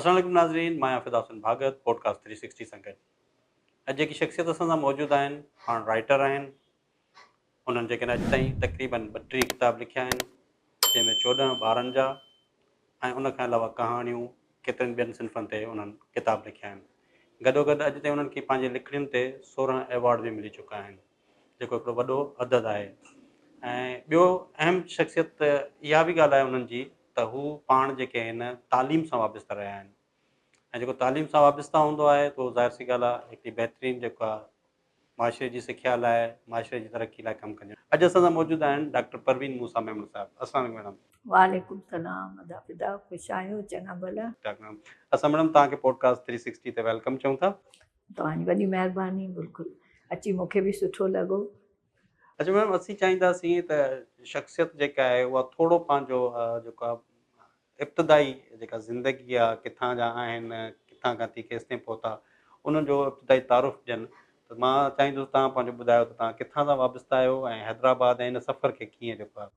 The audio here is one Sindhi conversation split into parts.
السلام عليڪم ناظرين مان آهيان Fida Hussain Bhagat podcast three sixty سان گڏ اڄ جيڪي شخصيت اسان سان موجود آهن پاڻ رائٽر آهن انهن جيڪڏهن اڄ تائين تقريبن ٻٽيهه ڪتاب لکيا آهن جنهن ۾ چوڏهن ٻارن جا ۽ ان کان علاوه ڪهاڻيون ڪيترن ٻين صنفن تي انهن ڪتاب لکيا آهن گڏوگڏ اڄ تائين انهن کي پنهنجي لکڻين تي سورهن ايوارڊ به ملي چڪا آهن جيڪو هڪڙو وڏو عدد آهي ۽ ٻيو اهم شخصيت ته اها به ڳالهه آهي انهن جي ته هو پاڻ جيڪي آهن تعليم سان وابسته رهيا آهن ۽ جيڪو تعليم سان وابسته هوندو آهي تو ظاهر سي ڳالهه آهي هڪڙي بهترين جيڪا معاشري جي سکيا لاء معاشري جي ترقي لاء ڪم ڪنديون اڄ اسان سان موجود آهن ڊاڪٽر پروين موسيٰ ميمڻ صاحب السلام عليڪم ميڊم. وعليڪم سلام ادا فدا خوش آهيو چڱا ڀلا. ڊاڪٽر ميمڻ اسان ميڊم توهان کي پوڊڪاسٽ ٿري سڪسٽي تي ويلڪم چئون ٿا. توهان جي وڏي مهرباني بلڪل اچي مون کي به سٺو لڳو. اچا ميم اسين چاهينداسين ته شخصيت جيڪا آهي اها ٿورو پنهنجو جيڪو آهي ابتدائي جيڪا زندگي آهي ڪٿان جا آهن ڪٿان کان ٿي ڪيستائين پهتا ان جو ابتدائي تعارف ڏين ته مان چاهيندس تان پنهنجو ٻڌايو ته تان ڪٿان سان وابسته آهيو ۽ حيدرآباد ۽ ان سفر کي ڪيئن جيڪو آهي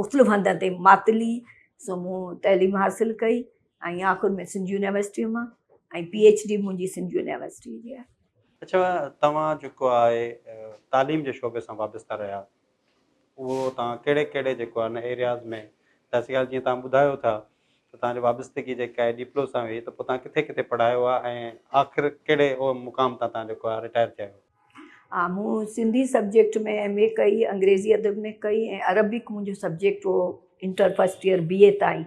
مختلف هنڌن تي ماتلي سو مون تعليم حاصل ڪئي ۽ آخر ۾ سنڌ يونيورسٽيء مان ۽ پي ايڇ ڊي منهنجي سنڌ يونيورسٽيء جي آهي. اڇا توهان جيڪو آهي تعليم جي شعبي سان وابسته رهيا اهو توهان ڪهڙي ڪهڙي جيڪو آهي ان ايرياز ۾ تحصيل جيئن توهان ٻڌايو ٿا ته توهان جي وابستگي جيڪا آهي ڏيپلو سان هئي ته پوء توهان ڪٿي ڪٿي پڙهايو آهي ۽ آخر ڪهڙي مقام تان توهان جيڪو آهي رٽائر ٿيا آهيو. ها مون سنڌي سبجيڪٽ ۾ ايم اي ڪئي انگريزي ادب ۾ ڪئي ۽ عربڪ منهنجو سبجيڪٽ هو inter first year B A تائين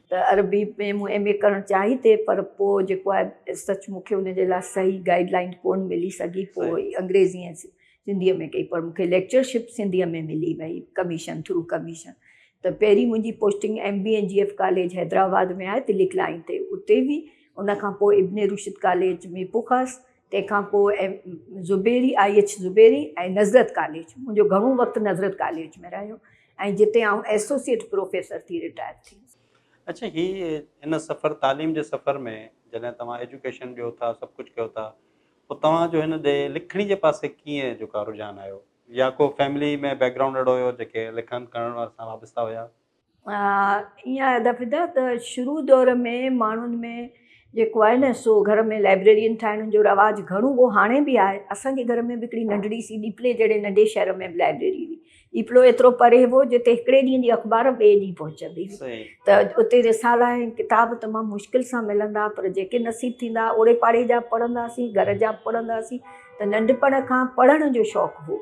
ته عربي ۾ مون ايم اي ڪرڻ چاهي تي پر پوء جيڪو آهي سچ مونکي ان جي لاء صحيح گائيڊ لائين ڪون ملي سگهي پوء انگريزي ۽ سنڌي ۾ ڪئي پر مونکي ليڪچر شپ سنڌي ۾ ملي وئي ڪميشن ٿرو ڪميشن ته پهرين منهنجي posting M B N G F college Hyderabad ۾ آهي تلڪ لائين تي اتي هئي ان کان پوء ابن رشد ڪاليج ميپوخاص تنهن کان پوء M Zubairi, I H Zubairi ۽ Nusrat college, منهنجو گهڻو وقت نظرت ڪاليج ۾ رهيو ۽ جتي آئون ايسوسيئيٽ پروفيسر ٿي رٽائر ٿي هيس. اڇا هي هن سفر تعليم جي سفر ۾ جڏهن توهان ايجوڪيشن ڏيو ٿا سڀ ڪجهه ڪيو ٿا پوء توهان جو هن ڏي لکڻي جي پاسي ڪيئن جو ڪا رجحان آيو يا ڪو فيملي ۾ بيڪ گرائونڊ اهڙو هيو جيڪي لکڻ ڪرڻ سان وابسته هيا. ائين آهي ادا فدا ته شروع دور ۾ ماڻهن ۾ جيڪو آهي نه سو گهر ۾ لائبريرين ٺاهڻ جو رواج گهڻو هو هاڻي بي آهي اسانجي گهر ۾ به هڪڙي ننڍڙي سي ڏيپلي جهڙي ننڍي شهر ۾ به لائبريري هئي ڏيپلو ايترو پري هو جتي هڪڙي ڏينهن جي اخبار ٻئي ڏينهن پهچندي هئي ته اتي رسالا ۽ ڪتاب تمام مشڪل سان ملندا هئا پر جيڪي نصيب ٿيندا هئا اوڙي پاڙي جا به پڙهندا هئاسين گهر جا به پڙهندا هئاسين ته ننڍپڻ کان پڙهڻ جو شوق هو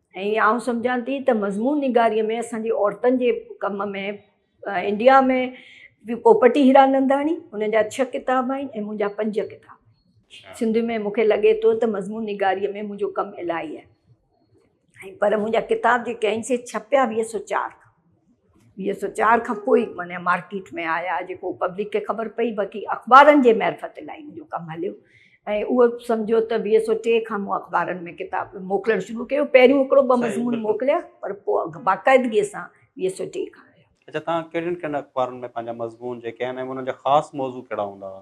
۽ آئون سمجهان ٿي ته مضمون نگاريء ۾ اسان جي عورتن جي ڪم ۾ انڊيا ۾ پوپٽي هيراننداڻي هن جا ڇهه ڪتاب آهن ۽ منهنجا پنج ڪتاب آهن سنڌ ۾ مون کي لڳي ٿو ته مضمون نگاريء ۾ منهنجو ڪم الاهي آهي ۽ پر منهنجا ڪتاب جيڪي آهن سي ڇپيا ويهه سو چار کان ويهه سؤ چار کان پوء معنيٰ مارڪيٽ ۾ آيا جيڪو پبلڪ کي خبر پئي باقي اخبارن جي معرفت لاء ان جو ڪم هليو ۽ اهو سمجهو ته ويهه سؤ ٽي کان مون اخبارن ۾ ڪتاب موڪلڻ شروع ڪيو پهريون هڪڙو ٻه مضمون موڪليا پر پوء باقاعدگيء سان ويهه سؤ ٽي کان آيا. اچا تان ڪهڙين ڪهڙين اخبارن ۾ پنهنجا مضمون جيڪي آهن ۽ انهن جا خاص موضوع ڪهڙا هوندا هئا؟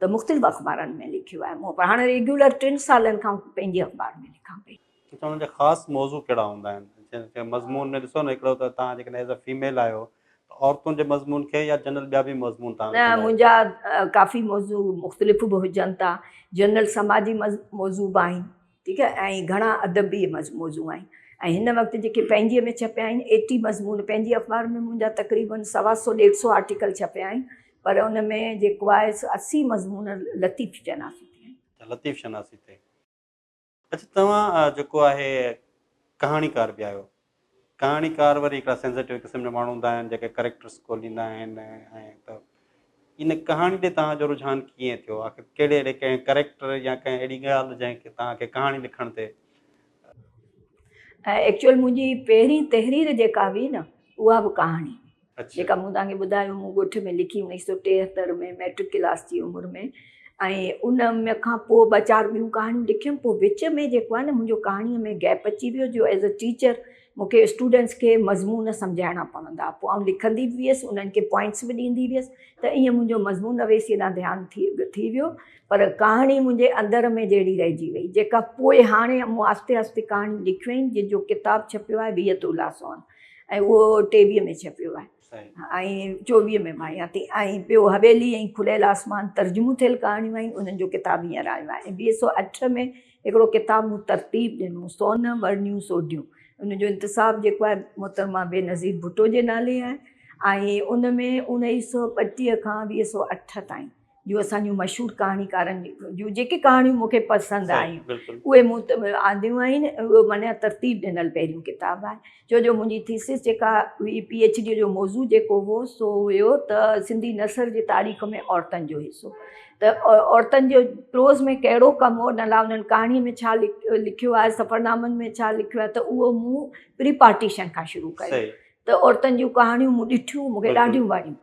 ته مختلف اخبارن ۾ لکيو آهي مون پر هاڻي ريگيولر ٽن سالن کان پنهنجي اخبار ۾ لکان پئي. اچا ان جا خاص موضوع ڪهڙا هوندا آهن جن کي مضمون ۾ ڏسو نه هڪڙو ته توهان جيڪڏهن ايز اي فيميل آهيو ته عورتن جي مضمون کي يا جنرل ٻيا به مضمون توهان نه منهنجا ڪافي موضوع مختلف به هجن ٿا جنرل سماجي موضوع به آهن ٺيڪ آهي ۽ گهڻا ادبي موضوع آهن ۽ هن وقت جيڪي پنهنجي ۾ ڇپيا آهن ايٽي مضمون پنهنجي اخبار ۾ منهنجا تقريبن سوا سو ڏيڍ سو آرٽيڪل ڇپيا آهن پر ان ۾ جيڪو آهي سو اسي مضمون لطيف شناسي تي آهن. اچا لطيف شناسي تي اچا توهان جيڪو آهي ڪهاڻيڪار به آهيو ڪهاڻيڪار وري هڪڙا سينسيٽو قسم جا ماڻهو هوندا آهن جيڪي ڪريڪٽرس کوليندا آهن ۽ ته ان ڪهاڻي ڏي توهان جو رجحان ڪيئن ٿيو آخر ڪهڙي اهڙي ڪنهن ڪريڪٽر يا ڪنهن اهڙي ڳالهه جنهن کي توهان کي ڪهاڻي لکڻ تي ايڪچوئل منهنجي پهرين تحرير جيڪا هئي نه اها به ڪهاڻي جيڪا مون توهان کي ٻڌايو مون ڳوٺ ۾ لکي انيس سو ٽيهتر ۾ مئٽرڪ ڪلاس جي عمر ۾ ۽ ان م کان پوء ٻه چار ٻيون ڪهاڻيون لکيم پوء وچ ۾ جيڪو آهي نه منهنجو ڪهاڻيء ۾ گيپ اچي ويو جو ايز اي ٽيچر مون کي اسٽوڊنٽس کي مضمون سمجهائڻا پوندو هئا پوء آئون لکندي به هيس انهن کي پوائنٽس به ڏيندي هيس ته ائين منهنجو مضمون نويسي ڏانهن ڌيان ٿي ٿي ويو پر ڪهاڻي منهنجي اندر ۾ جهڙي رهجي وئي جيڪا پوء هاڻي مون آهستي آهستي ڪهاڻيون لکيون آهن جن جو ڪتاب ڇپيو آهي ويهه تولا سون ۽ اهو ٽيويهه ۾ ڇپيو آهي ۽ چوويهه ۾ ماهيان ٿي ۽ ٻيو حويلي ۽ کليل آسمان ترجمو ٿيل ڪهاڻيون آهن انهن جو ڪتاب هينئر آيو آهي ۽ ويهه سؤ اٺ ۾ هڪڙو ڪتاب مون ترتيب ڏنو سون ورنيون سوڍيون ان جو انتساب جيڪو آهي محترمه بينظير ڀٽو جي نالي آهي ۽ ان ۾ اڻيهي سؤ ٻٽيهه کان ويهه سؤ اٺ تائين جو اسان جون مشھور ڪھاڻيڪارن جون جيڪي ڪھاڻيون مون کي پسند آيون اھي مون وٽ آنديون آھن اھو معنيٰ ترتيب ڏنل پھريون ڪتاب آھي ڇو جو منھنجي ٿيسز جيڪا ھئي پي ايڇ ڊي جو موضوع جيڪو ھو سو ھيو ته سنڌي نثر جي تاريخ ۾ عورتن جو حصو ته عورتن جو پروز ۾ ڪھڙو ڪم ھو ان لاء انھن ڪھاڻي ۾ ڇا لکيو آھي سفرنامن ۾ ڇا لکيو آھي ته اھو مون پري پارٽيشن کان شروع ڪيو ته عورتن جون ڪھاڻيون مون ڏٺيون مون کي ڏاڍيون وڻيون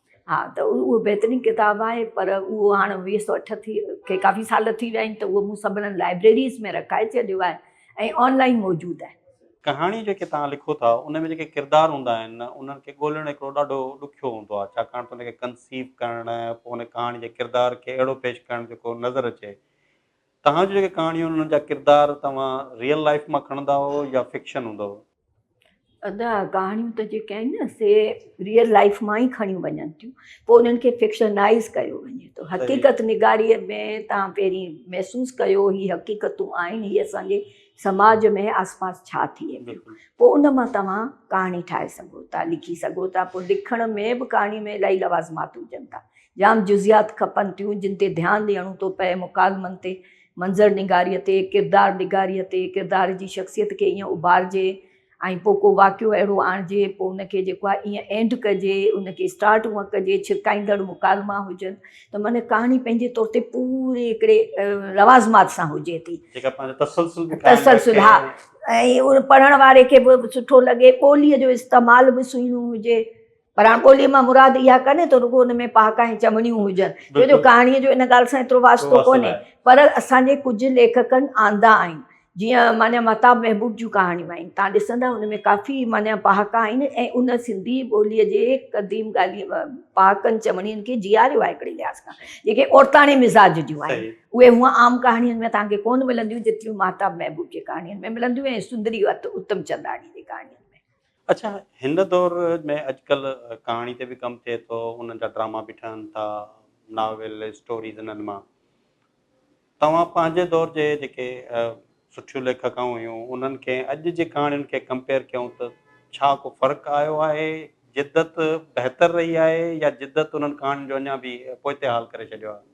ها ته اهو بهترين ڪتاب آهي پر اهو هاڻ ويهه سؤ اٺ ٿي کي ڪافي سال ٿي ويا آهن ته اهو مون سڀنن لائبريريز ۾ رکائي ڇڏيو آهي ۽ آن لائين موجود آهي. ڪهاڻي جيڪي توهان لکو ٿا ان ۾ جيڪي ڪردار هوندا آهن انهن کي ڳولڻ هڪڙو ڏاڍو ڏکيو هوندو آهي ڇاڪاڻ ته ان کي ڪنسيو ڪرڻ پوء ان ڪهاڻي جي ڪردار کي اهڙو پيش ڪرڻ جيڪو نظر اچي توهان جون جيڪي ڪهاڻيون آهن انهن جا ڪردار توهان ريئل لائيف مان کڻندا هئو يا فڪشن هوندو هئو؟ ادا ڪهاڻيون ته جيڪي آهن نه سي ريئل لائف مان ئي کڻيون وڃن ٿيون پوء انهن کي فڪشنائز ڪيو وڃي ٿو حقيقت نگاريء ۾ تان پهرين محسوس ڪيو هي حقيقتون آهن هي اسانجي سماج ۾ آس پاس ڇا ٿئي پيو پوء ان مان توهان ڪهاڻي ٺاهي سگهو ٿا لکي سگهو ٿا پوء لکڻ ۾ به ڪهاڻي ۾ الائي لوازمات هجن ٿا جام جزيات کپن ٿيون جن تي ڌيان ڏيڻو ٿو پئي مڪالمن تي منظر نگاريء تي، ڪردار نگاريء تي، ڪردار جي شخصيت کي ايئن اڀارجي ۽ پوء ڪو واقعو اهڙو آڻجي، پوء ان کي جيڪو آهي ايئن اينڊ ڪجي، ان کي اسٽارٽ هونئن ڪجي، ڇرڪائيندڙ مڪالما هجن ته معنيٰ ڪهاڻي پنهنجي طور تي پوري هڪڙي لوازمات سان هجي ٿي. جيڪا پنهنجو تسلسل به قائم رکي. تسلسل، ها. ۽ پڙهڻ واري کي به سٺو لڳي، ٻوليء جو استعمال به سهڻو هجي، پر هاڻ ٻوليء مان مراد اها ڪانهي ته رڳو ان ۾ پهاڪا ۽ چوڻيون هجن، ڇو جو ڪهاڻيء جو ان ڳالهه سان ايترو واسطو ڪونهي، پر اسان جي ڪجهه ليکڪن آندا آهن، جيئن معنيٰ مهتاب محبوب جون ڪهاڻيون آهن، تان ڏسندا ان ۾ ڪافي معنيٰ پهاڪا آهن ۽ ان سنڌي ٻوليء جي قديم ڳالهين، پهاڪن چوڻين کي جياريو آهي هڪڙي لحاظ کان، جيڪي عورتاڻي مزاج جون آهن. اهي هونء عام ڪهاڻين ۾ توهان کي ڪونه ملنديون، جيتريون مهتاب محبوب جي ڪهاڻين ۾ ملنديون ۽ سندري اتم چنداڻيء جي ڪهاڻين ۾. اڇا هن دور ۾ اڄڪلهه ڪهاڻي تي به ڪم ٿئي ٿو، انهن جا ڊراما به ٺهن ٿا، ناول، اسٽوريز انهن مان توهان پنهنجي دور جي جيڪي سٺيون ليکڪائون هيون انهن کي ۽ اڄ جي ڪهاڻين کي ڪمپيئر ڪيون ته ڇا ڪو فرق آيو آهي، جدت بهتر رهي آهي يا جدت انهن ڪهاڻين جو اڃا به پوئتي حال ڪري ڇڏيو آهي؟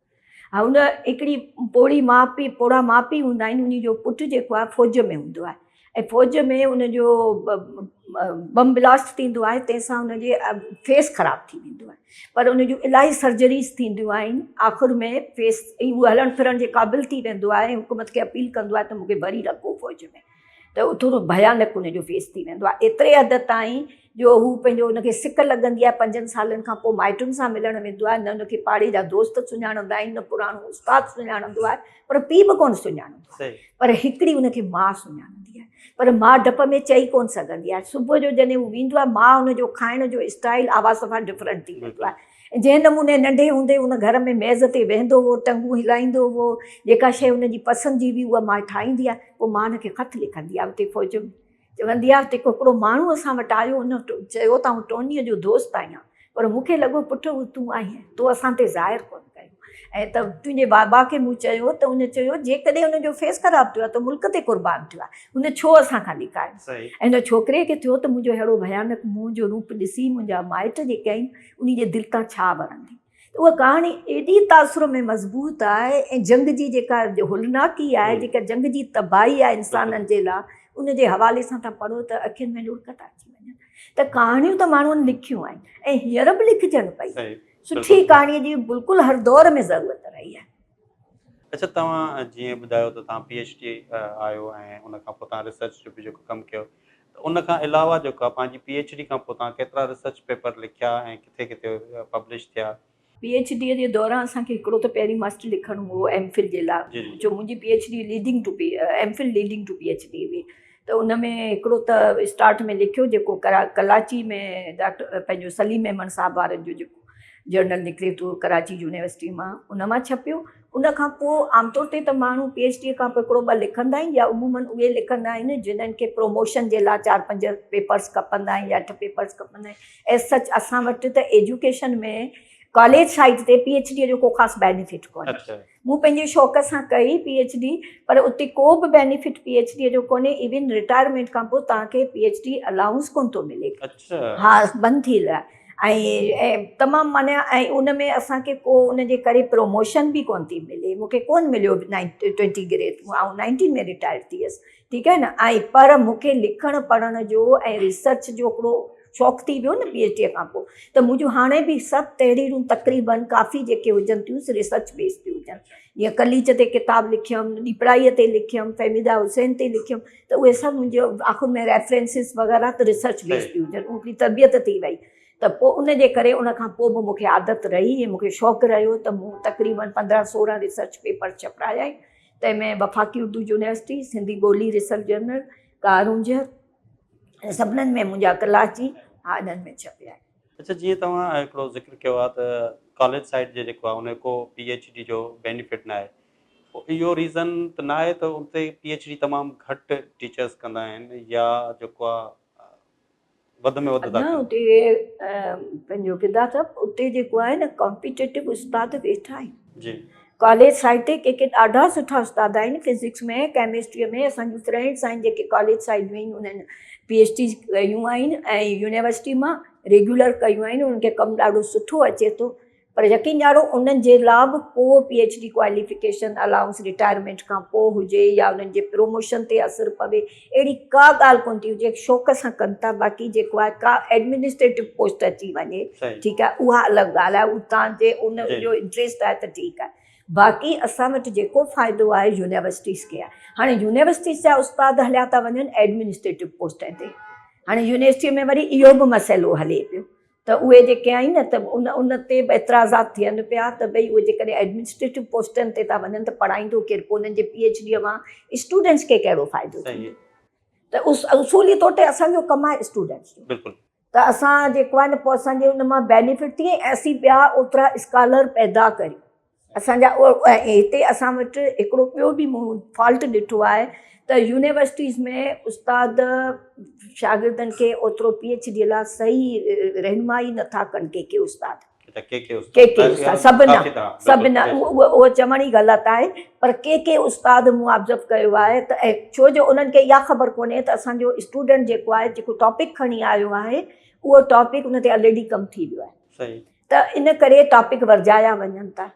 هن هڪڙي پوڙهي ماء پيء پوڙها ماء پيء هوندا آهن انهي جو پٽ جيڪو آهي فوج ۾ هوندو آهي ۽ فوج ۾ ان جو بم بلاسٽ ٿيندو آهي تنهن سان ان جي فيس خراب ٿي ويندو آهي پر ان جون الاهي سرجريز ٿينديون آهن آخر ۾ فيس هلڻ ڦرڻ جي قابل ٿي ويندو آهي حڪومت کي اپيل ڪندو آهي ته مون کي ڀري رکو فوج ۾ ته اهو ٿورو ڀيانڪ ان جو فيس ٿي ويندو آهي ايتري حد تائين جو هو پنهنجو ان کي سڪ لڳندي آهي پنجن سالن کان پوء مائٽن سان ملڻ ويندو آهي نه ان کي پاڙي جا دوست سڃاڻندا آهن نه پراڻو استاد سڃاڻندو آهي پر پيء به ڪونه سڃاڻندو آهي پر هڪڙي ان کي ماء سڃاڻندي آهي پر ماء ڊپ ۾ چئي ڪونه سگهندي آهي صبح جو جڏهن هو ويندو آهي ماء ان جو کائڻ جو اسٽائل آواز صفا ڊفرنٽ ٿي ويندو آهي جنهن نموني ننڍي هوندي هن گهر ۾ ميز تي ويهندو هو، ٽنگون هلائيندو هو، جيڪا شيء هن جي پسند جي هئي اها ماء ٺاهيندي ها، پوء ماء هن کي خط لکندي ها اتي فوج ۾. چوندي ها ته هڪڙو ماڻهو اسان وٽ آيو، هن چيو ته آئون ٽونيء جو دوست آهيان، پر مون کي لڳو پٽ اهو تون آهين، تو اسان تي ظاهر ڪونه ڪيو ۽ ته تنهنجي بابا کي مون چيو ته هن چيو جيڪڏهن هن جو فيس خراب ٿيو ها ته ملڪ تي قربان ٿيو ها، هن ڇو اسان کان لڪايو ۽ هن ڇوڪري کي ٿيو ته منهنجو ههڙو ڀيانڪ منهن جو روپ ڏسي منهنجا مائٽ جيڪي آهن، انهي جي دل تان ڇا ورندي؟ ته اها ڪهاڻي ايڏي تاثر ۾ مضبوط آهي ۽ جنگ جي جيڪا هولناڪي آهي، جيڪا جنگ جي تباهي آهي انسانن جي لاء، ان جي حوالي سان تان پڙهو ته اکين ۾ لڙڪ ٿا اچي وڃن. ته ڪهاڻيون ته ماڻهن لکيون آهن ۽ هينئر به لکجن پئي. سٺي ڪهاڻي جي بلڪل هر دور ۾ ضرورت رهي آهي. اچا توهان جيئن ٻڌايو ته توهان پي ايڇ ڊي آهيو ۽ ان کان پوء توهان ريسرچ جو به جيڪو ڪم ڪيو ته ان کان علاوه جيڪو آهي پنهنجي پي ايڇ ڊي کان پوء توهان ڪيترا ريسرچ پيپر لکيا ۽ ڪٿي ڪٿي پبلش ٿيا؟ پي ايڇ ڊي جي دوران اسان کي هڪڙو ته پهرين ماسٽر لکڻو هو ايم فل جي لاء جو منهنجي P H D leading to M Phil leading to P H D هئي ته ان ۾ هڪڙو ته اسٽارٽ ۾ لکيو جيڪو ڪراچي ۾ ڊاڪٽر پنهنجو سليم ميمڻ صاحب وارن جو جيڪو جرنل نڪري ٿو ڪراچي يونيورسٽي مان ان مان ڇپيو ان کان پوء عام طور تي ته ماڻهو پي ايڇ ڊي کان پوء هڪڙو ٻه لکندا آهن يا عمومن اهي لکندا آهن جنهن کي پروموشن جي لاء چار پنج پيپرس کپندا آهن يا اٺ پيپرس کپندا آهن ايز سچ اسان وٽ ته ايجوڪيشن ۾ ڪاليج سائيڊ تي پي ايڇ ڊي جو ڪو خاص بينيفٽ ڪونهي مون پنهنجي شوق سان ڪئي پي ايڇ ڊي پر اتي ڪو به بينيفٽ پي ايڇ ڊي جو ڪونهي ايون رٽائرمينٽ کان پوء توهان کي پي ايڇ ڊي الائونس ڪونه ٿو ملي ها بند ٿيل آهي ۽ تمام معني ۽ ان ۾ اسان کي ڪو ان جي ڪري پروموشن به ڪونه ٿي ملي مون کي ڪونه مليو نائنٽي ٽوئنٽي گريڊ آئون نائنٽين ۾ رٽائر ٿي هيس ٺيڪ آهي نه ۽ پر مون کي لکڻ پڙهڻ جو ۽ ريسرچ جو هڪڙو شوق ٿي ويو نه پي ايڇ ڊي کان پوء ته منهنجون هاڻي به سڀ تحريرون تقريبن ڪافي جيڪي هجن ٿيون سي ريسرچ بيس تي هجن جيئن قليچ تي ڪتاب لکيم ڏيپرائيء تي لکيم فهميده حسين تي لکيم ته اهي سڀ منهنجو آخر ۾ ريفرنسز وغيره ته ريسرچ بيس تي هجن هڪڙي تربيت ٿي وئي ته پوء ان جي ڪري ان کان پوء به مون کي عادت رهي ۽ مون کي شوق رهيو ته مون تقريبن پندرهن سورهن ريسرچ پيپر ڇپرايا آهن تنهن ۾ وفاقي اردو يونيورسٽي، سنڌي ٻولي ريسرچ جرنل، ڪارونجهر ۽ سڀنن ۾ منهنجا ڪلاچي هاڏن ۾ ڇپيا آهن. اڇا جيئن توهان هڪڙو ذڪر ڪيو آهي ته ڪاليج سائيڊ جي جيڪو آهي ان جو ڪو پي ايڇ ڊي جو بينيفٽ ناهي پوء اهو ريزن ته ناهي ته اتي پي ايڇ ڊي تمام گهٽ ٽيچرس ڪندا آهن يا جيڪو آهي وڌ ۾ وڌ ٿا ڪن. اڃا اتي پنهنجو فدا ٿا اتي جيڪو آهي نه ڪامپيٽيٽو استاد ويٺا آهن جي ڪاليج سائيڊ تي ڪي ڪي ڏاڍا سٺا استاد آهن فزڪس ۾ ڪيمسٽري ۾ اسان جون فرينڊس آهن جيڪي ڪاليج سائيڊ ۾ ئي انهن پي ايڇ ڊي ڪيون آهن ۽ يونيورسٽي مان ريگيولر ڪيون آهن انهن کي ڪم ڏاڍو سٺو اچي ٿو پر يقين ڏيارو انهن جي لا به ڪو P H D qualification, allowance retirement کان پوء هجي يا انهن جي پروموشن تي اثر پوي اهڙي ڪا ڳالهه ڪونه ٿي هجي شوق سان ڪن ٿا باقي جيڪو آهي ڪا ايڊمنسٽريٽو پوسٽ اچي وڃي ٺيڪ آهي اها الڳ ڳالهه آهي اها تان جي ان جو انٽريسٽ آهي ته ٺيڪ آهي باقي اسان وٽ جيڪو فائدو آهي يونيورسٽيز کي آهي هاڻي يونيورسٽيز جا استاد هليا ٿا وڃن ايڊمنسٽريٽو پوسٽن تي هاڻي يونيورسٽي ۾ وري اهو به مسئلو هلي پيو ته اهي جيڪي آهن ته ان تي به اعتراضات ٿين پيا ته ڀئي اهي جيڪڏهن ايڊمنسٽريٽو پوسٽن تي ٿا وڃن ته پڙهائيندو ڪير پوء انهن جي پي ايڇ ڊي مان اسٽوڊنٽس کي ڪهڙو فائدو ٿيندو ته اصولي طور تي اسان جو ڪم آهي اسٽوڊنٽس جو ته اسان جيڪو آهي نه پوء اسان جي ان مان بينيفٽ ٿئي ۽ اسين ٻيا اوترا اسڪالر پيدا ڪريون. اسان جا هتي اسان وٽ هڪڙو ٻيو به مون فالٽ ڏٺو آهي ته يونيورسٽيز ۾ استاد شاگردن کي اوترو پي ايڇ ڊي لاء صحيح رهنمائي نٿا ڪن ڪي ڪي استاد ڪي ڪي استاد سڀ نه سڀ نه اهو چوڻ ئي غلط آهي پر ڪي ڪي استاد مون آبزرو ڪيو آهي ته ڇو جو انهن کي اها خبر ڪونهي ته اسان جو اسٽوڊنٽ جيڪو آهي جيڪو ٽاپڪ کڻي آيو آهي اهو ٽاپڪ ان تي الريڊي ڪم ٿي ويو آهي ته ان ڪري ٽاپڪ ورجايا وڃن ٿا.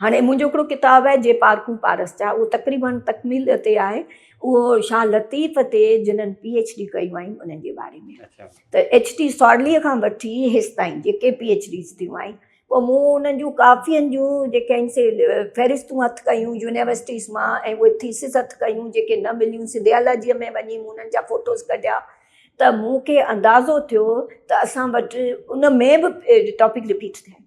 هاڻي منهنجو هڪڙو ڪتاب آهي جي پارکون پارس جا اهو تقريباً تڪميل تي آهي اهو شاهه لطيف تي جنن پي ايڇ ڊي ڪيون آهن انهن جي باري ۾ ته ايڇ ٽي سارليء کان وٺي هيستائين جيڪي پي ايڇ ڊيز ٿيون آهن پوء مون انهن جون ڪافين جون جيڪي آهن سي فهرستون هٿ ڪيون يونيورسٽيز مان ۽ اهي ٿيسز هٿ ڪيون جيڪي نه مليون سنڌيالاجيء ۾ وڃي مون انهن جا فوٽوز ڪڍيا ته مون کي اندازو ٿيو ته اسان وٽ ان ۾ به ٽاپڪ رپيٽ ٿيا آهن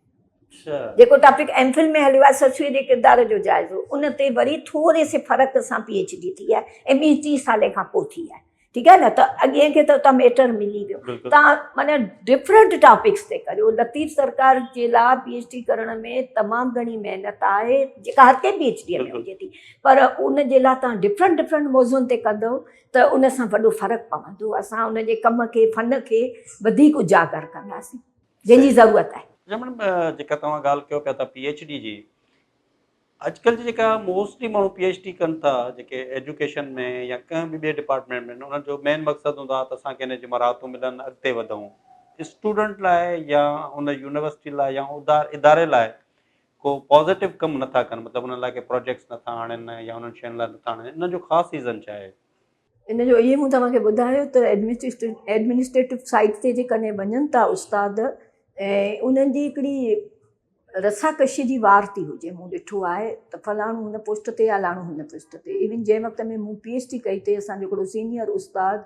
جيڪو ٽاپڪ ايم فل ۾ هليو آهي سسويء جي ڪردار جو جائزو ان تي وري ٿوري سي فرق سان پي ايڇ ڊي ٿي آهي ۽ ٻي ٽي سالين کان پوء ٿي آهي ٺيڪ آهي نه ته اڳين کي ته اتان ميٽر ملي ويو تان معنيٰ ڊفرنٽ ٽاپڪس تي ڪريو لطيف سرڪار جي لاء پي ايڇ ڊي ڪرڻ ۾ تمام گهڻي محنت آهي جيڪا هر ڪنهن پي ايڇ ڊي ۾ هجي ٿي پر ان جي لاء تان ڊفرنٽ ڊفرنٽ موضوعن تي ڪندو ته ان سان وڏو فرق پوندو اسان ان جي ڪم کي فن کي وڌيڪ اجاگر ڪنداسين جنهن جي ضرورت آهي. اچا ميڊم جيڪا توهان ڳالهه ڪيو پيا ٿا پي ايڇ ڊي جي اڄڪلهه جي جيڪا موسٽلي ماڻهو پي ايڇ ڊي ڪن ٿا جيڪي ايجوڪيشن ۾ يا ڪنهن به ٻي ڊپارٽمينٽ ۾ انهن جو مين مقصد هوندو آهي ته اسان کي ان جي مراعتون ملن اڳتي وڌون اسٽوڊنٽ لاء يا ان يونيورسٽي لاء يا اداري لاء ڪو پازيٽو ڪم نٿا ڪن مطلب انهن لاء ڪي پراجيڪٽس نٿا آڻين يا انهن شين لاء نٿا آڻين انهن جو خاص ريزن ڇا آهي؟ ان جو اهي مون توهان کي ٻڌايو ته ايڊمنسٽريٽو سائيٽ تي جيڪڏهن وڃن ٿا استاد ۽ انهن جي هڪڙي رسا ڪشي جي وار ٿي هجي مون ڏٺو آهي ته فلاڻو هن پوسٽ تي الاڻو هن پوسٽ تي ايون جنهن وقت ۾ مون پي ايڇ ڊي ڪئي تي اسان جو هڪڙو سينيئر استاد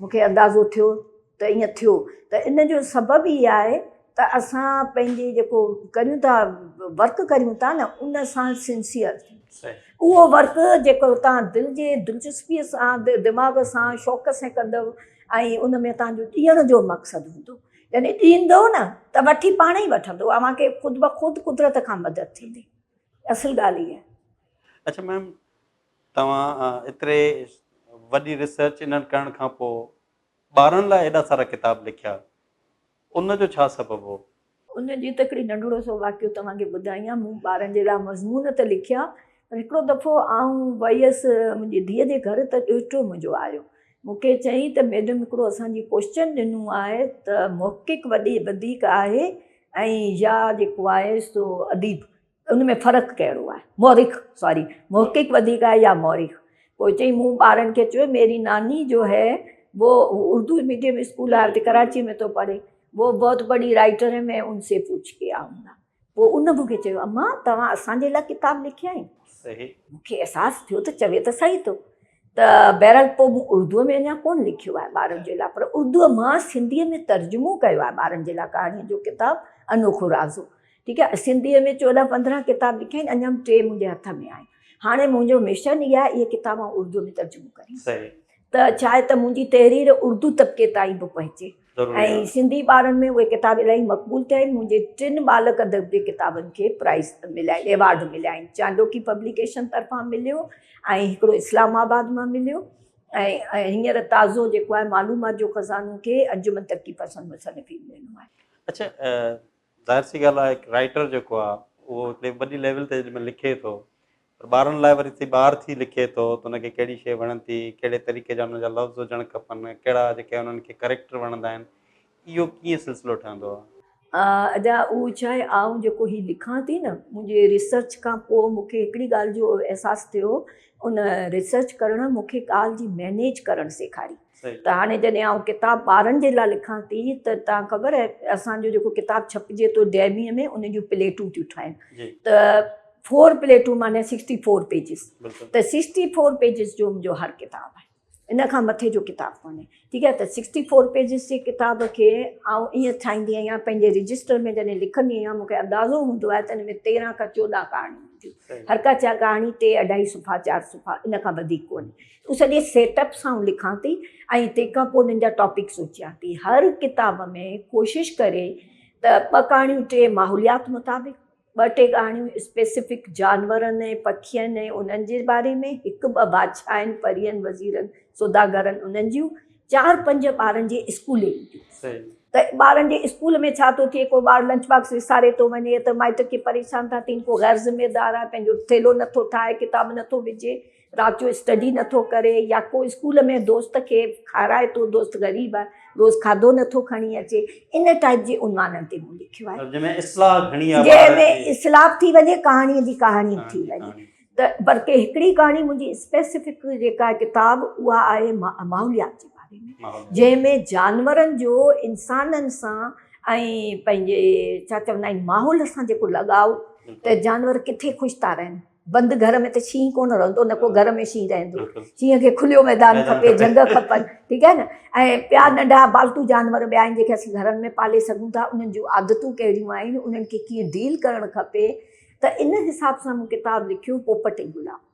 مون کي اندازو ٿيو ته ائين ٿيو ته ان جو سبب ئي آهي ته اسان پنهنجي جيڪو ڪريون ٿا ورڪ ڪريون ٿا نه ان سان سنسيئر اهو ورڪ جيڪو تان دل جي دلچسپي سان دماغ سان شوق سان ڪندو ۽ ان ۾ تان جو ڏيڻ جو مقصد هوندو يعني ڏيندو نه ته وٺي پاڻ ئي وٺندو اوهان کي خود بخود قدرت کان مدد ٿيندي اصل ڳالهه هي اچھا ميم توهان ايتري وڏي ريسرچ انهن ڪرڻ کان پوء ٻارن لاء ايڏا سارا ڪتاب لکيا ان جو ڇا سبب هو؟ ان جي ته هڪڙي ننڍڙو سو واقعو توهان کي ٻڌائيان مون ٻارن جي لاء مضمون ته لکيا پر هڪڙو دفعو آئون ويس منهنجي ڌيء جي گهر ته ڏوهٽو منهنجو آيو مون کي چيائين ته ميڊم هڪڙو اسان جي ڪوئسچن ڏنو آهي ته محقق وڌيڪ آهي ۽ يا جيڪو آهي سو اديب ان ۾ فرق ڪهڙو آهي؟ مورخ، ساري، محقق وڌيڪ آهي يا مورخ؟ پوء چيائين، مون ٻارن کي چيو، ميري ناني جو هي وو اردو ميڊيم اسڪول آهي اتي ڪراچيء ۾ ٿو پڙهي، وو بهت بڙي رائيٽر هي مين ان سي پوڇ ڪي آئون گا. پوء ان مون کي چيو، امان، توهان اسان جي لاء ڪتاب لکيا آهن؟ مون کي احساس ٿيو ته چوي ته صحيح ٿو. ته بهرحال پوء مون اردوء ۾ اڃا ڪونه لکيو آهي ٻارن جي لاء پر اردوء مان سنڌيء ۾ ترجمو ڪيو آهي ٻارن جي لاء ڪهاڻين جو ڪتاب انوکو رازو ٺيڪ آهي سنڌيء ۾ چوڏهن پندرهن ڪتاب لکيا آهن اڃا ٽي منهنجي هٿ ۾ آهن هاڻي منهنجو مشن اهي آهي اهي ڪتاب آئون اردوء ۾ ترجمو ڪريان ته چاهي ته منهنجي تحرير اردو طبقي تائين به پهچي ۽ سنڌي ٻارن ۾ اهي ڪتاب الاهي مقبول ٿيا آهن منهنجي ٽن ٻالڪ ادب جي ڪتابن کي پرائز مليا آهن ايوارڊ مليا آهن چانڊوڪي پبليڪيشن طرفان مليو ۽ هڪڙو اسلام آباد مان مليو ۽ هينئر تازو جيڪو آهي معلومات جو خزانو کي انجمن ترقي پسند مصنفين ڏنو آهي اڇا ظاهر سي ڳالهه آهي رائٽر جيڪو آهي اهو وڏي ليول تي جڏهن لکي ٿو پر ٻارن لاء وري ٿي ٻار ٿي لکي ٿو ته ان کي ڪهڙي شيء وڻن ٿي، ڪهڙي طريقي جا ان جا لفظ هجڻ کپن، ڪهڙا جيڪي انهن کي ڪريڪٽر وڻندا آهن، اهو ڪيئن سلسلو ٺهندو آهي. ادا اهو ڇا آهي آئون جيڪو هي لکان ٿي نه منهنجي ريسرچ کان پوء مون کي هڪڙي ڳالهه جو احساس ٿيو ان ريسرچ ڪرڻ مون کي ڳالهه جي مينيج ڪرڻ سيکاري. ته هاڻي جڏهن آئون ڪتاب ٻارن جي لاء لکان ٿي ته تان خبر آهي اسان جو جيڪو ڪتاب ڇپجي ٿو ڊيمي ۾ ان جون پليٽون ٿيون ٺاهين ته فور پليٽون معنيٰ سڪسٽي فور پيجز ته سڪسٽي فور پيجز جو منهنجو هر ڪتاب آهي ان کان مٿي جو ڪتاب ڪونهي ٺيڪ آهي ته سڪسٽي فور پيجز جي ڪتاب کي آئون ائين ٺاهيندي آهيان پنهنجي رجسٽر ۾ جڏهن لکندي آهيان مون کي اندازو هوندو آهي ته ان ۾ تيرهن کان چوڏهن ڪهاڻيون هونديون هر ڪا چا ڪهاڻي ٽي اڍائي صفحا چار صفحا ان کان وڌيڪ ڪونهي هو سڄي سيٽ اپ سان لکان ٿي ۽ تنهن کان پوء انهن جا ٽاپڪ سوچيان ٿي. هر ڪتاب ۾ ڪوشش ڪري ته ٻه ڪهاڻيون ٽي ماحوليات مطابق، ٻه ٽي ڪهاڻيون اسپيسفڪ جانورن ۽ پکين ۽ انهن جي باري ۾، هڪ ٻه بادشاهن، پرين، وزيرن، سوداگرن انهن جون، چار پنج ٻارن جي اسڪولي ريڊيوز. ته ٻارن جي اسڪول ۾ ڇا ٿو ٿئي، ڪو ٻار لنچ باڪس وساري ٿو وڃي ته مائٽ ڪي پريشان ٿا ٿين، ڪو غير ذميدار آهي پنهنجو ٿيلهو نٿو ٺاهي، ڪتاب نٿو وجهي. رات جو اسٽڊي نٿو ڪري يا ڪو اسڪول ۾ دوست کي کارائي ٿو دوست غريب آهي روز کاڌو نٿو کڻي اچي ان ٽائيپ جي عنوانن تي مون لکيو آهي جنهن ۾ اصلاح گهڻي آهي جنهن ۾ اصلاح به ٿي وڃي ڪهاڻي جي ڪهاڻي به ٿي وڃي ته پر ڪي هڪڙي ڪهاڻي منهنجي اسپيسفڪ جيڪا ڪتاب اها آهي ماحوليات جي باري ۾ جنهن ۾ جانورن جو انسانن سان ۽ پنهنجي ڇا چوندا آهن ماحول سان جيڪو لڳاء ته جانور ڪٿي خوش ٿا رهن بند گهر ۾ ته شينهن ڪونه رهندو نه ڪو گهر ۾ شينهن رهندو شينهن کي کليو ميدان کپي جهنگ کپن ٺيڪ آهي نه ۽ ٻيا ننڍا پالتو جانور ٻيا آهن جيڪي اسين گهرن ۾ پالي سگهون ٿا انهن جون عادتون ڪهڙيون آهن انهن کي ڪيئن ڊيل ڪرڻ کپي ته ان حساب سان مون ڪتاب لکيو پوپٽ ۽ گلاب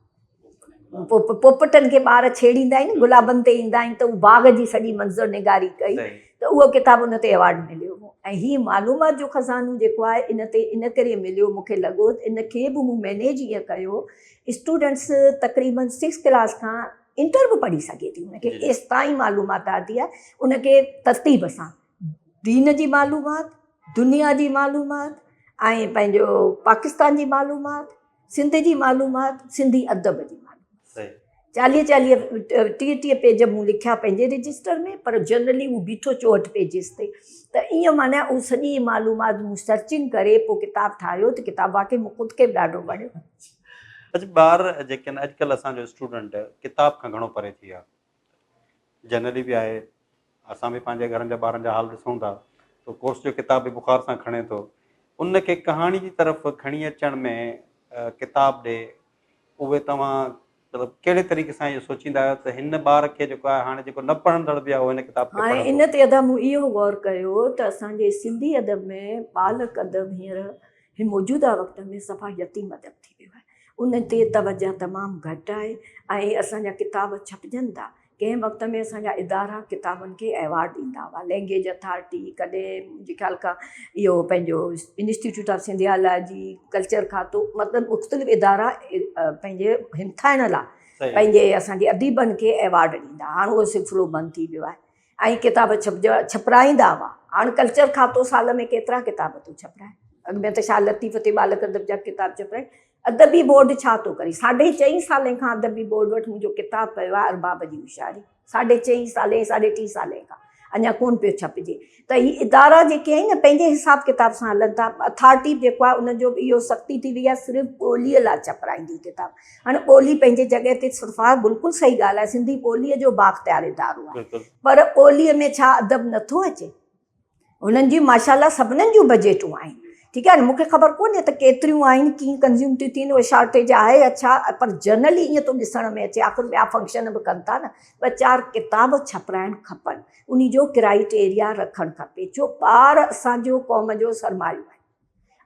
پوپٽن کي ٻار ڇيڙيندا آهن گلابن تي ايندا آهن ته هو باغ جي سڄي منظر نگاري ڪئي ته اهو ڪتاب ان تي ايوارڊ مليو هو ۽ هي معلومات جو خزانو جيڪو آهي ان تي ان ڪري مليو مون کي لڳو ته ان کي به مون مينيج ايئن ڪيو اسٽوڊنٽس تقريباً سڪس ڪلاس کان انٽر به پڙهي سگهي ٿي ان کي ايستائين معلومات آتي آهي ان کي ترتيب سان دين جي معلومات دنيا جي معلومات ۽ پنهنجو پاڪستان جي معلومات سنڌ جي معلومات، سنڌي ادب جي معلومات چاليهه چاليهه ٽيهه ٽيهه پيج مون لکيا پنهنجي رجسٽر ۾ پر جنرلي هو بيٺو چوهٺ پيجز تي ته ايئن معنيٰ اهو سڄي معلومات مون سرچنگ ڪري پوء ڪتاب ٺاهيو ته ڪتاب واقعي مون خود کي به ڏاڍو وڻيو. اچ ٻار جيڪي آهن اڄڪلهه اسان جو اسٽوڊنٽ ڪتاب کان گهڻو پري ٿي ويو آهي جنرلي به آهي اسان به پنهنجي گهرن جا ٻارن جا حال ڏسون ٿا تو ڪورس جو ڪتاب به بخار سان کڻي ٿو ان کي ڪهاڻي جي طرف کڻي اچڻ ۾ ڪتاب ڏي اهي توهان مطلب ڪهڙي طريقي سان اهو سوچيندا آهيو ته هن ٻار کي جيڪو آهي هاڻي جيڪو نه پڙهندڙ به آهي هن ڪتاب کي پڙهندو ان تي ادا مون اهو غور ڪيو ته اسان جي سنڌي ادب ۾ ٻالڪ ادب هينئر هي موجوده وقت ۾ صفا يتيم ادب ٿي ويو آهي. ان تي توجه تمام گهٽ آهي ۽ اسان جا ڪتاب ڇپجن ٿا. ڪنهن وقت ۾ اسان جا ادارا ڪتابن کي ايوارڊ ڏيندا هئا. لئنگيج اٿارٽي، ڪڏهن منهنجي خيال کان اهو پنهنجو انسٽيٽيوٽ آف سنڌيالاجي، ڪلچر کاتو مطلب مختلف ادارا پنهنجي همٿائڻ لاء پنهنجي اسان جي اديبن کي ايوارڊ ڏيندا هئا. هاڻ اهو سلسلو بند ٿي ويو آهي. ۽ ڪتاب ڇپرائيندا هئا. هاڻ ڪلچر کاتو سال ۾ ڪيترا ڪتاب ٿو ڇپرائي؟ اڳ ۾ ته شاهه لطيف تي ٻالڪ ادب جا ڪتاب ڇپرائي. ادبي بورڊ ڇا ٿو ڪري؟ ساڍي چئين سالين کان ادبي بورڊ وٽ منهنجو ڪتاب پيو آهي ارباب جي هوشياري. ساڍي چئين سالين، ساڍي ٽي سالين کان اڃا ڪونه پيو ڇپجي. ته هي ادارا جيڪي آهن نه پنهنجي حساب ڪتاب سان هلن ٿا. اٿارٽي به جيڪو آهي ان جو به اهو سختي ٿي وئي آهي صرف ٻوليء لاء ڇپرائيندي ڪتاب. هاڻي ٻولي پنهنجي جڳهه تي سرفراز صاحب بلڪل صحيح ڳالهه آهي سنڌي ٻولي جو بااختيار ادارو آهي پر ٻولي ۾ ڇا ادب نٿو اچي هنن جي ماشاالله سڀنن جون بجيٽون آهن ٺيڪ آهي نه مونکي خبر ڪونهي ته ڪيتريون آهن ڪيئن ڪنزيوم ٿيون ٿين اهي شارٽيج آهي يا ڇا پر جنرلي ائين ٿو ڏسڻ ۾ اچي آخر ٻيا فنڪشن به ڪن ٿا نه ٻه چار ڪتاب ڇپرائڻ کپن ان جو ڪرائٽيريا رکڻ کپي جو ٻار اسان جو قوم جو سرمايو آهن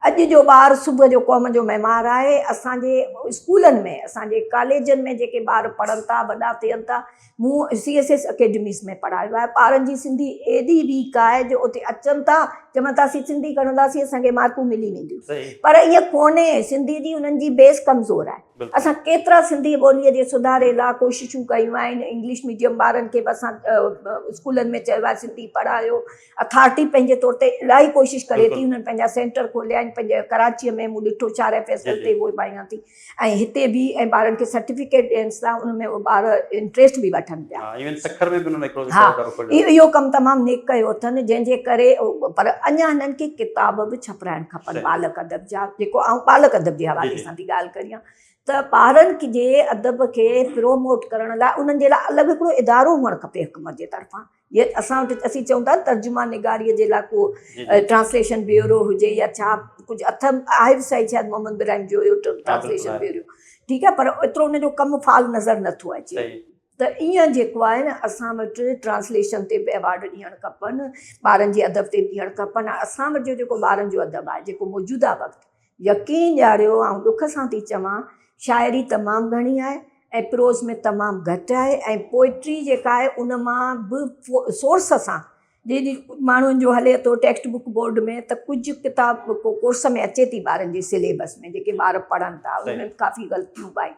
اڄ جو ٻار صبح جو قوم جو معمار آهي، اسان جي اسڪولن ۾ اسان جي ڪاليجن ۾ جيڪي ٻار پڙهن ٿا وڏا ٿين ٿا مون سي ايس ايس اڪيڊميز ۾ پڙهايو آهي ٻارن جي سنڌي ايڏي ويڪ آهي جو اتي اچن ٿا چون ٿا اسين سنڌي کڻنداسين اسان کي مارڪون ملي وينديون پر ائين ڪونهي سنڌي جي انهن جي بيس ڪمزور آهي اسان ڪيترا سنڌي ٻوليء جي سڌاري لاء ڪوششون ڪيون آهن انگلش ميڊيم ٻارن کي به اسان اسڪولن ۾ چيو آهي سنڌي پڙهايو اٿارٽي پنهنجي طور تي الاهي ڪوشش ڪري ٿي انهن پنهنجا سينٽر کوليا آهن پنهنجي ڪراچي ۾ مون ڏٺو چارئي فيصل تي اهو ڀائيان ٿي ۽ هتي به ۽ ٻارن کي سرٽيفڪيٽ ڏينس ٿا ان ۾ ٻار انٽريسٽ به وٺن پيا ايون سکر ۾ به انهن هڪڙو سينٽر کوليو اهو ڪم تمام نيڪ ڪيو اٿن جنهن جي ڪري پر اڃا هنن کي ڪتاب به ڇپرائڻ کپن ٻالڪ ادب جا جيڪو آئون ٻالڪ ادب جي حوالي سان ٿي ڳالهه ڪريان ته ٻارن جي ادب کي پروموٽ ڪرڻ لاء انهن جي لاء الڳ هڪڙو ادارو هئڻ کپي حڪومت جي طرفان جيئن اسان وٽ اسين چئون ٿا ترجمان نگاريء جي لاء ڪو ٽرانسليشن بيورو هجي يا ڇا ڪجهه اٿم آهي به صحيح شايد محمد ابراهيم جويو ٽرانسليشن بيورو ٺيڪ آهي پر ايترو ان جو ڪم فال نظر نه ٿو اچي ته ايئن جيڪو آهي نه اسان وٽ ٽرانسليشن تي به ايوارڊ ڏيڻ کپن ٻارن جي ادب تي به ڏيڻ کپن ۽ اسان وٽ جو جيڪو ٻارن جو ادب آهي جيڪو موجوده وقت يقين ڏياريو آئون ڏک سان ٿي چوان شاعري تمام گهڻي آهي ۽ پروز ۾ تمام گهٽ آهي ۽ پوئٽري جيڪا آهي ان مان به سورس سان جيڏي ماڻهن جو هلي ٿو ٽيڪسٽ بڪ بورڊ ۾ ته ڪجهه ڪتاب ڪورس ۾ اچي ٿي ٻارن جي سليبس ۾ جيڪي ٻار پڙهن ٿا ان ۾ ڪافي غلطيون به آهن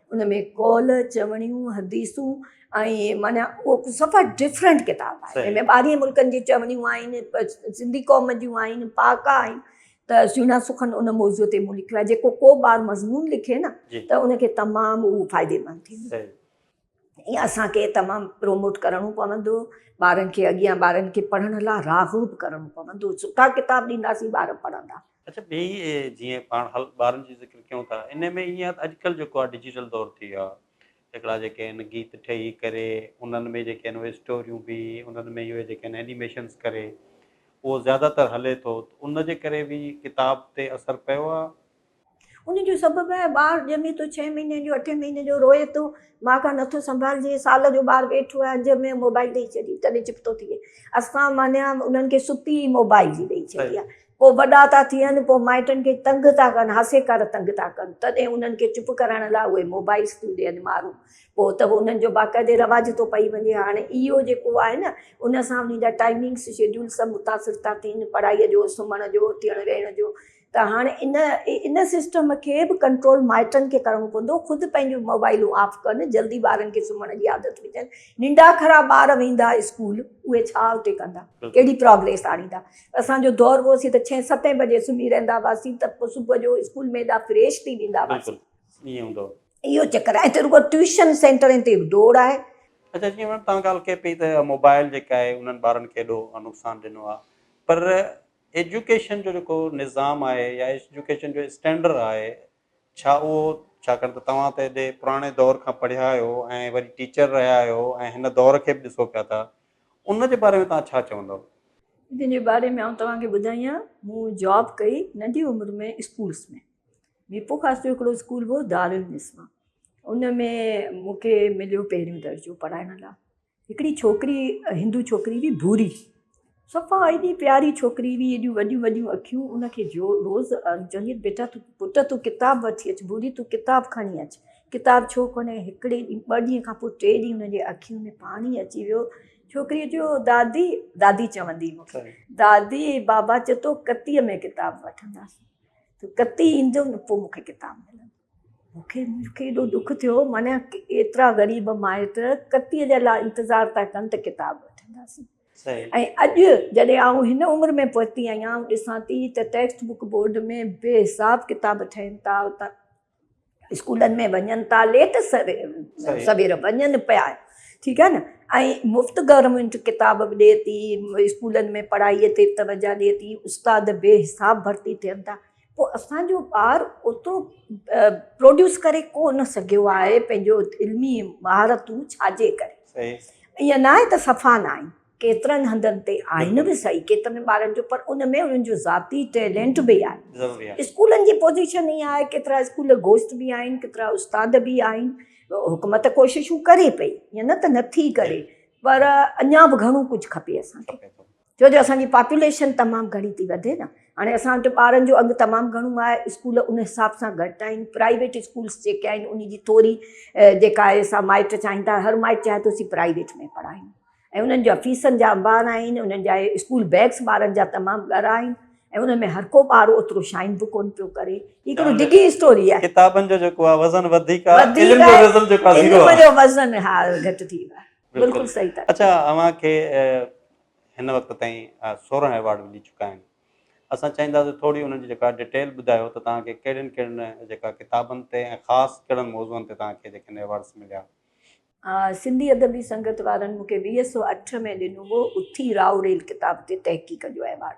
ان ۾ قول، چوڻيون، حديثون ۽ معنيٰ اهو صفا ڊفرنٽ ڪتاب آهي. ان ۾ ٻاهرين ملڪن جي چوڻيون آهن، سنڌي قوم جون آهن، پهاڪا آهن ته سهڻا سخن ان موضوع تي مون لکيو آهي. جيڪو ڪو ٻار مضمون لکي نه ته ان کي تمام اهو فائديمند ٿيندو. ائين اسان کي تمام پروموٽ ڪرڻو پوندو ٻارن کي اڳيان ٻارن کي پڙهڻ لاء راغب ڪرڻو پوندو. سٺا ڪتاب ڏينداسين ٻار پڙهندا. اچا ٻئي جيئن پاڻ حل ٻارن جي ذڪر ڪيون ٿا ان ۾ ايئن آهي اڄ ڪلهه جيڪو آهي ڊجيٽل دور ٿي ويو آهي هڪڙا جيڪي آهن گيت ٺهي ڪري انهن ۾ جيڪي آهن اهي اسٽوريون به انهن ۾ اهي جيڪي آهن اينيميشنس ڪري اهو زياده تر هلي ٿو ان جي ڪري به ڪتاب تي اثر پيو آهي ان جو سبب آهي ٻار ڄمي ٿو ڇهين مهيني جو اٺين مهيني جو روئي ٿو ماء کان نٿو سنڀالجي سال جو ٻار ويٺو آهي اڄ ۾ موبائل ڏئي ڇڏي تڏهن چپ ٿو ٿئي اسان معنيٰ انهن کي ستي ئي موبائل جي ڏئي ڇڏي آهي پوء وڏا ٿا ٿين، پوء مائٽن کي تنگ ٿا ڪن، هاسي کر تنگ ٿا ڪن، تڏهن انهن کي چپ ڪرائڻ لاء اهي موبائيلز ٿيون ڏين مارون، پوء ته انهن جو باقاعدي رواج ٿو پئي وڃي، هاڻي اهو جيڪو آهي نه ان سان انهن جا ٽائمنگز شيڊيول سڀ متاثر ٿا ٿين، پڙهائي جو، سمهڻ جو، اٿيڻ ويهڻ جو، ته هاڻي ان ان سسٽم کي به ڪنٽرول مائٽن کي ڪرڻو پوندو، خود پنهنجون موبائيلون آف ڪن، جلدي ٻارن کي سمهڻ جي عادت وجهن، ننڊاکرا ٻار ويندا اسڪول، اهي ڇا اتي ڪندا، ڪهڙي پراگريس آڻيندا. اسان جو دور هوسي ته ڇهين ستين بجي سمهي رهندا هئاسين ته پوء صبح جو اسڪول ۾ ايڏا فريش ٿي ويندا هئاسين. بلڪل ائين هوندو هو. اهو چڪر آهي ته رڳو ٽيوشن سينٽرن تي ڊوڙ آهي. اچا جيئن ميم توهان ڳالهه ڪئي پئي ته موبائل جيڪا آهي انهن ٻارن کي ايڏو نقصان ڏنو آهي پر ايجوڪيشن جو جيڪو نظام آهي يا ايجوڪيشن جو اسٽينڊر آهي ڇا اهو ڇاڪاڻ ته توهان ته ايڏي پراڻي دور کان پڙهيا آهيو ۽ وري ٽيچر رهيا آهيو ۽ هن دور کي به ڏسو پيا ٿا ان جي باري ۾ توهان ڇا چوندؤ؟ جن جي باري ۾ آئون توهان کي ٻڌائيان مون جاب ڪئي ننڍي عمر ۾ اسڪولس ۾ ميپو خاص جو هڪڙو اسڪول هو دارالنسوان ان ۾ مون کي مليو پهريون درجو پڙهائڻ لاء هڪڙي ڇوڪري هندو ڇوڪري هئي ڀوري صفا ايڏي پياري ڇوڪري هئي ايڏيون وڏيون وڏيون اکيون ان کي جو روز چوندي هئس بيٽا تون پٽ تون ڪتاب وٺي اچ ڀوري تون ڪتاب کڻي اچ ڪتاب ڇو ڪونهي هڪڙي ڏينهن ٻه ڏينهن کان پوء ٽي ڏينهن ان جي اکين ۾ پاڻي اچي ويو ڇوڪري چيو دادي دادي چوندي مون کي دادي بابا چتو ڪتيء ۾ ڪتاب وٺنداسين ڪتي ايندو نه پوء مون کي ڪتاب ملندو مونکي مونکي ايڏو ڏک ٿيو معنيٰ ايترا غريب مائٽ ڪتي جي لاء انتظار ٿا ڪن ته ڪتاب وٺنداسين صحيح ۽ اڄ جڏهن آئون هن عمر ۾ پهتي آهيان آئون ڏسان ٿي ته ٽيڪسٽ بوڪ بورڊ ۾ بي حساب ڪتاب ٺهن ٿا اتان اسڪولن ۾ وڃن ٿا ليٽ سوير وڃن پيا ٺيڪ آهي نه ۽ مفت گورنمينٽ ڪتاب به ڏي ٿي اسڪولن ۾ پڙهائي تي توجه ڏي ٿي استاد بي حساب ڀرتي ٿين ٿا پوء اسانجو ٻار اوترو پروڊيوس ڪري ڪونه سگهيو آهي پنهنجو علمي مهارتون ڇاجي ڪري ائين ناهي ته صفا ناهن ڪيترن هنڌن تي آهن به سهي ڪيترن ٻارن جو پر ان ۾ انهن جو ذاتي ٽيلنٽ به آهي اسڪولن جي پوزيشن ائين آهي ڪيترا اسڪول گوشت به آهن ڪيترا استاد به آهن حڪومت ڪوششون ڪري پئي ائين نه ته نٿي ڪري پر اڃا به گهڻو ڪجهه کپي اسانکي ڇو جو اسان جي پاپوليشن تمام گهڻي ٿي وڌي نه هاڻي اسان وٽ ٻارن جو اگهه تمام گهڻو آهي اسڪول ان حساب سان گهٽ آهن پرائيويٽ اسڪولس جيڪي آهن ان جي ٿوري جيڪا آهي سا مائٽ چاهين ٿا هر مائٽ چاهي ٿو اسين پرائيويٽ ۾ پڙهايون ۽ انهن جا فيسن جا انبار آهن انهن جا اسڪول بيگس ٻارن جا تمام ڳرا آهن ۽ انهن ۾ هر ڪو ٻار اوترو شائن به ڪون پيو ڪري هي هڪڙو ڊگهي اسٽوري آهي ڪتابن جو جيڪو آهي وزن وڌيڪ آهي علم جو وزن جيڪو آهي زيرو آهي علم جو وزن ها گهٽ ٿي ويو آهي بلڪل صحيح ٿا چئو اڇا اوهان کي هن وقت تائين سورهن ايوارڊ ملي چڪا آهن اسان چاهينداسين ٿوري انهن جي جيڪا ڊيٽيل ٻڌايو ته توهان کي ڪهڙين ڪهڙين جيڪا ڪتابن تي ۽ خاص ڪهڙن موضوعن تي توهان کي جيڪي هن ايوارڊس مليا. سنڌي ادبي سنگت وارن مونکي ويهه سؤ اٺ ۾ ڏنو هو اٿي راء ريل ڪتاب تي تحقيق جو ايوارڊ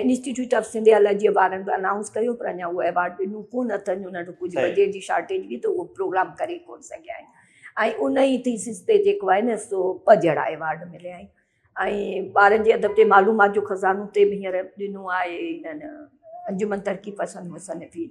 انسٽيٽيوٽ آف سنڌ الرجيء وارن به انائونس ڪيو پر اڃا اهو ايوارڊ ڏنو ڪونه اٿن جو نه ته ڪجهه بجيٽ جي شارٽيج هئي ته اهو پروگرام ڪري ڪونه سگهيا آهن ۽ ان ئي ٿيسز تي جيڪو آهي نه سو ٻه جهڙا ايوارڊ مليا آهن ۽ ٻارن جي ادب تي معلومات جو خزانو تي به هينئر ڏنو آهي هنن انجمن ترقي پسند مصنفين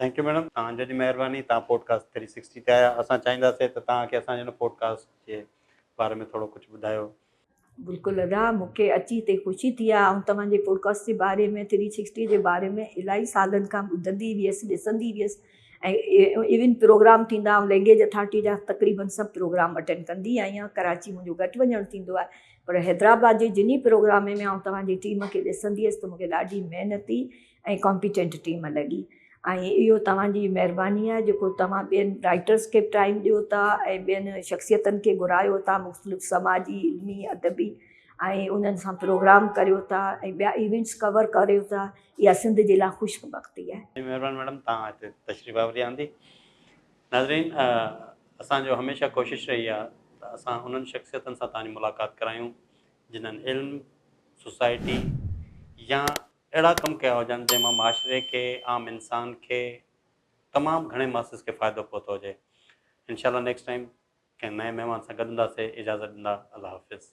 ٿينڪ يو ميڊم توهان جي مهرباني توهان پوڊڪاسٽ ٿري سڪسٽي تي آيا اسان چاهينداسين ته توهان کي اسان جي هن پوڊڪاسٽ جي باري ۾ ٿورو ڪجهه ٻڌايو. بلڪل ادا مون کي اچي هتي خوشي ٿي آهي آئون توهان جي پوڊڪاسٽ جي باري ۾ ٿري سڪسٽي جي باري ۾ الاهي سالن کان ٻڌندي هيس ڏسندي هيس ۽ ايون پروگرام ٿيندا آئون لينگيج اٿارٽي جا تقريبن سڀ پروگرام اٽينڊ ڪندي آئي آهيان ڪراچي منهنجو گهٽ وڃڻ ٿيندو آهي پر حيدرآباد جي جنهن پروگرام ۾ آئون توهان جي ٽيم کي ڏسندي هيس ته مون کي ڏاڍي محنتي ۽ ڪامپيٽنٽ ٽيم لڳي ۽ اهو توهان جي مهرباني آهي جيڪو توهان ٻين رائٽرس کي به ٽائيم ڏيو ٿا ۽ ٻين شخصيتن کي گهرايو ٿا مختلف سماجي علمي ادبي ۽ انهن سان پروگرام ڪريو ٿا ۽ ٻيا ايونٽس ڪور ڪريو ٿا اها سنڌ جي لاء خوش بختي آهي. جي مهربان ميڊم توهان هتي تشريف آوري آندي. ناظرين اسان جو هميشه ڪوشش رهي آهي ته اسان انهن شخصيتن سان توهان جي ملاقات ڪرايون جنهن علم، سوسائٽي يا اهڙا ڪم ڪيا هجن جنهن مان معاشري کي عام انسان کي تمام گهڻي ماسس کي فائدو پهتو هجي انشاء الله نيڪسٽ ٽائيم ڪنهن نئين مهمان سان گڏنداسي اجازت ڏندا الله حافظ.